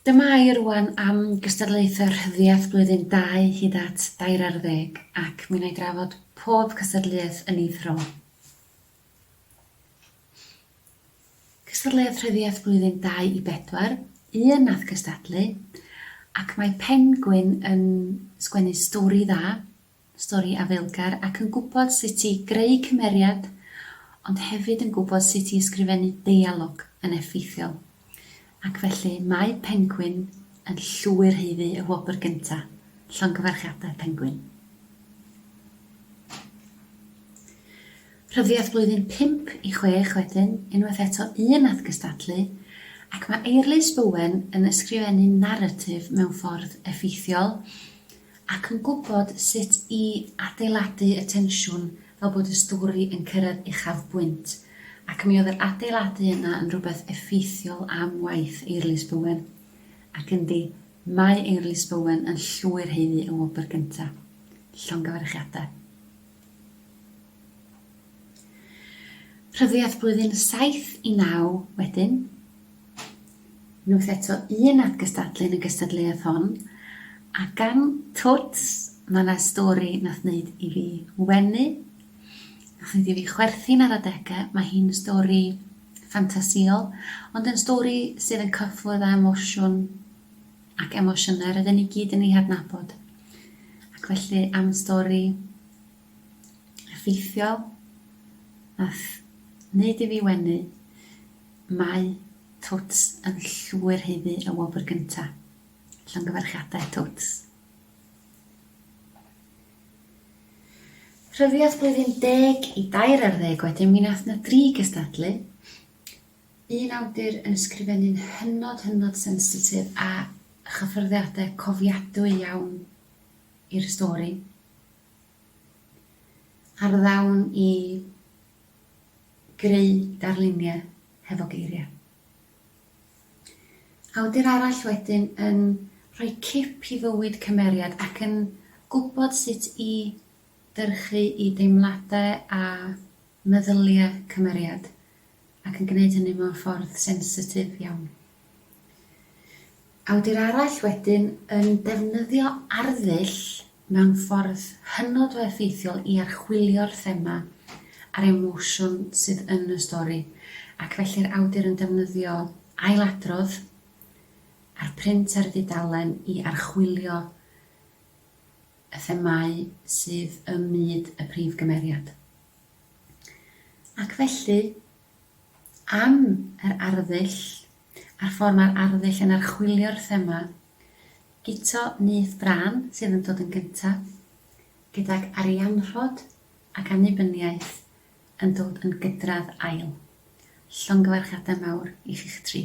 Dyma i rŵan am gystadlaethau rhyddiaith blwyddyn 2 hyd at dair ar ddeg ac mi wna i drafod pob cystadleuaeth yn ei thro. Cystadleuodd Rhyddiaith Blwyddyn Dau i Bedwar, un nath cystadlu, ac mae Penguin yn sgwennu stori dda, stori afaelgar ac yn gwybod sut i greu cymeriad ond hefyd yn gwybod sut i ysgrifennu deialog yn effeithiol. Ac felly mae Pengwin yn llwyr haeddu y wobr gynta', Llongyfarchiadau Pengwin. Rhyddiaith flwyddyn pump i chwech wedyn, unwaith eto un nath gystadlu, ac mae Eirlys Bowen yn ysgrifennu naratif mewn ffordd effeithiol, ac yn gwybod sut i adeiladu y tensiwn fel bod y stori yn cyrraedd uchafbwynt, ac mi oedd yr adeiladu yna yn rhywbeth effeithiol am waith Eirlys Bowen. Ac yndi, mae Eirlys Bowen yn llwyr haeddu y wobr gyntaf. Llongyfarchiadau. Rhyddiaith blwyddyn 7 i 9 wedyn. Wnwth eto un at gystadlu yn y gystadleuaeth hon, a gan Twts ma' 'na stori nath neud i fi wenu, nath neud i fi chwerthin ar adege, ma' hi'n stori ffantasïol, ond yn stori sydd yn cyffwrdd â emosiwn ac emosiyne rydyn ni gyd yn eu hadnabod. Ac felly am stori effeithiol nath neud i fi wenu, Mae Twts yn llwyr haeddu y wobr gyntaf. Llongyfarchiadau Twts. Rhyddiaith blwyddyn deg i dair ar ddeg wedyn mi nath na dri gystadlu. Un awdur yn ysgrifennu'n hynod hynod sensitif a chyffyrddiade cofiadwy iawn i'r stori. Ar ddawn i Greu darluniau hefo geiriau. Awdur arall wedyn yn rhoi cip i fywyd cymeriad ac yn gwybod sut i dyrchu i deimladau a meddyliau cymeriad ac yn gwneud hynny mewn ffordd sensitif iawn. Awdur arall wedyn yn defnyddio arddull mewn ffordd hynod o effeithiol i archwilio'r thema a'r emosiwn sydd yn y stori, ac felly'r awdur yn defnyddio ailadrodd a'r print ar y dudalen i archwilio y themâu sydd ym myd y prif gymeriad. Ac felly, am yr arddull a'r ffordd mae'r arddull yn archwilio'r thema, Guto nyth brân sydd yn dod yn gyntaf, gydag arianrhod ac annibyniaeth yn dod yn gydradd ail. Llongyfarchiadau mawr i chi'ch tri.